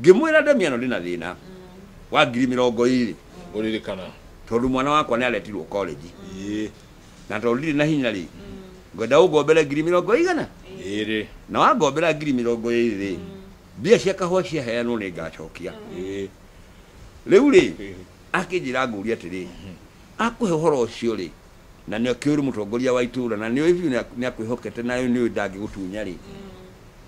Ngĩmwĩra, Ndemiano, ndĩ na thĩna wa ngiri mĩrongo ĩĩrĩ, Ũririkana. tondũ mwana wakwa nĩ aretirũo kolenji, Ĩĩ. na tondũ ndirĩ na hinya-rĩ, ngwenda ũngombere ngiri mĩrongo ĩigana? Ĩĩrĩ. Na wangombera ngiri mĩrongo ĩĩrĩ-rĩ, mbia cia kahũa ciaheanwo nĩ ngaacokia. Ĩĩ. Rĩu-rĩ, akĩnjĩra ngũũrie atĩrĩ, Akũhe ũhoro ũcio-rĩ, na nĩ akĩũĩ ũrĩ mũtongoria wa itũũra, na nĩ ũĩ biũ nĩ akwĩhokete na nĩ ũĩ ndangĩgũtunya-rĩ,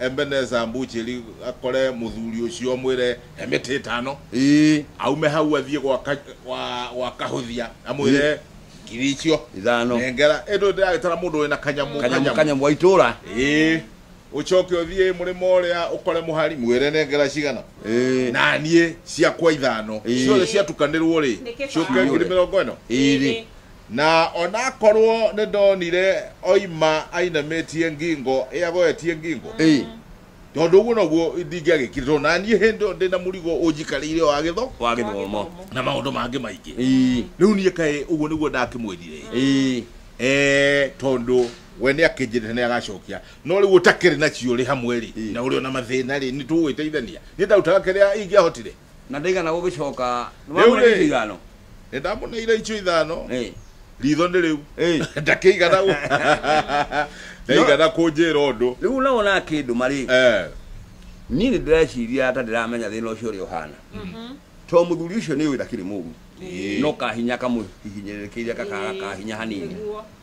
Ebeneza Mbũchĩri akore mũthuri ũcio amwĩre he mĩtĩ ĩtano Ĩĩ. aume hau athiĩ gwa ka- gwa- gwa kahũthia amwĩre ngiri icio Ithano. nengera ĩndũ ndĩragĩtara mũndũ wĩna kanyamũ Kanyamũ kanyamũ wa itũra. Ĩĩ. ũcoke ũthiĩ mũrĩmo ũrĩa ũkore mũhari mwĩre nengera cigana Ĩĩ. na niĩ ciakwa ithano Ĩĩ. ciothe ciatukanĩrwo rĩ Nĩ kĩbao. ciũke ngiri mĩrongo ĩno Ĩĩ. Na o na akorwo nĩndonire oima ainamĩtie ngingo ĩ agoetie ngingo, Ĩĩ. tondũ ũguo noguo ndingĩagĩkire, tondũ na niĩ hĩndĩ ĩyo ndĩ na mũrigo ũnjikarĩire wa gĩtho Wa gĩthomo. na maũndũ mangĩ maingĩ. Ĩĩ. Rĩu niĩ kaĩ ũguo nĩguo ndakĩmwĩrire? Ĩĩ. Ee, tondũ we nĩ akĩnjĩrĩte nĩ agacokia. No rĩu ũtakĩrĩ nacio ũrĩ hamwe-rĩ, Ĩĩ. na ũrĩ o na mathĩna-rĩ, nĩtũgũgĩteithania? Niĩ ndarutaga kĩrĩa ingĩahotire. na ndaigana gũgĩcoka Rĩu-rĩ. nĩwamũneire icio ithano nĩ ndamũneire icio ithano Eh, ritho nĩ rĩu eh. ndakĩigana gũ- ndaigana kũnjĩra ũndũ rĩu nao nakĩndũma rĩ Eh, niĩ nĩ ndĩreciria ta ndĩramenya thĩna ũcio ũrĩa ũhana to mũthuri ũcio nĩ ũĩ ndakĩrĩ mũru Ĩĩ. no kahinya kamũhihinyĩrĩrĩkĩire kakaga kahinya hanini Nĩguo.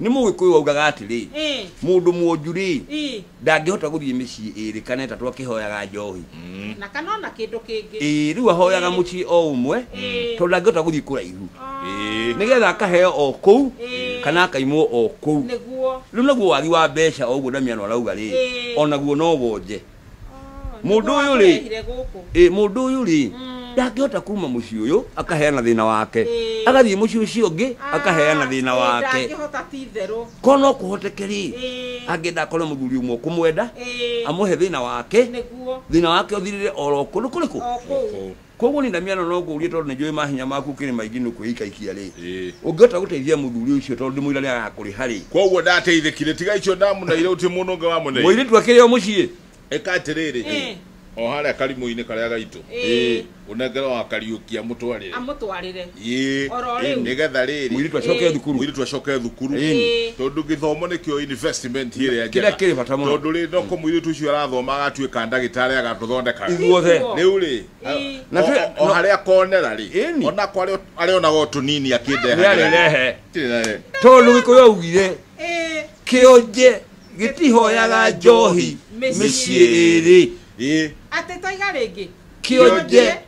nĩ mũgĩkũyũ waugaga atĩrĩ Eh. mũndũ mwonju rĩ Ii. ndangĩhota gũthiĩ mĩciĩ ĩrĩ kana ĩtatũ akĩhoyaga njohi na kana ona kĩndũ kĩngĩ ĩĩ rĩu ahoyaga Ĩĩ. mũciĩ o ũmwe Ĩĩ. tondũ ndangĩhota gũthiĩ kũraihu Ĩĩ. nĩgetha akaheo o kũu Ĩĩ. kana akaimwo o kũu nĩguo rĩu naguo wagi wa mbeca o ũguo ndamiano arauga rĩ Ĩĩ. onaguo no wonje Mũndũ ũyũ rĩ? Nĩgũkũrehire gũkũ. ĩ mũndũ ũyũ rĩ ndangĩhota kuma mũciĩ ũyũ akaheana thĩna wake Ĩĩ. agathiĩ mũciĩ ũcio ũngĩ akaheana thĩna Ĩĩ, wake ndangĩhota ti itherũ ko no kũhoteke rĩ Ĩĩ. angĩenda akore mũthuri ũmwe ũkũmwenda Ĩĩ. amũhe thĩna wake nĩguo thĩna wake ũthirĩre oro kũndũ kũrĩkũ o kũu Kwoguo niĩ ndamiano no ngũrie tondũ nĩ njũĩ mahinya maku ũkĩrĩ maingĩ nĩ ũkwĩikaikia rĩ. Ĩĩ. Ũngĩhota gũteithia mũthuri ũcio tondũ ndĩmwĩra nĩ agakũrĩha rĩ. Kwoguo ndateithĩkire, tiga icio ndamuneire gũtirĩ mũndũ ũngĩ wamuneire. Mũirĩtu akĩrĩ o mũciĩ. Ĩka atĩrĩrĩ, o harĩa karimũ-inĩ karĩa gaitũ, ũnengere o wa Kariũki amũtwarĩre. Amũtwarĩre. Ĩĩ, Oro rĩu. nĩ getha rĩrĩ Mũirĩtu acoke thukuru. mũirĩtu acoke thukuru Ĩĩ. tondũ gĩthomo nĩkĩo investment ĩrĩa Kĩrĩa njega kĩrĩ bata mũno. tondũ rĩ no kũ mũirĩtu ũcio arathoma agatuĩka ndagĩtarĩ agatũthondeka Ithuothe. Ithuothe. rĩu rĩ Ĩĩ. Na o- twe- o- o no- harĩa akonera rĩ Ĩni. onako arĩ- arĩonaga o tũnini akĩndeha Nĩarĩrehe. Kĩrĩrehe. Tondũ Gĩkũyũ augire Ĩĩ. kĩonje gĩtihoyaga njohi Mĩciĩ. mĩciĩ ĩrĩ. Ĩĩ. Atĩ toiga rĩngĩ. Kĩonje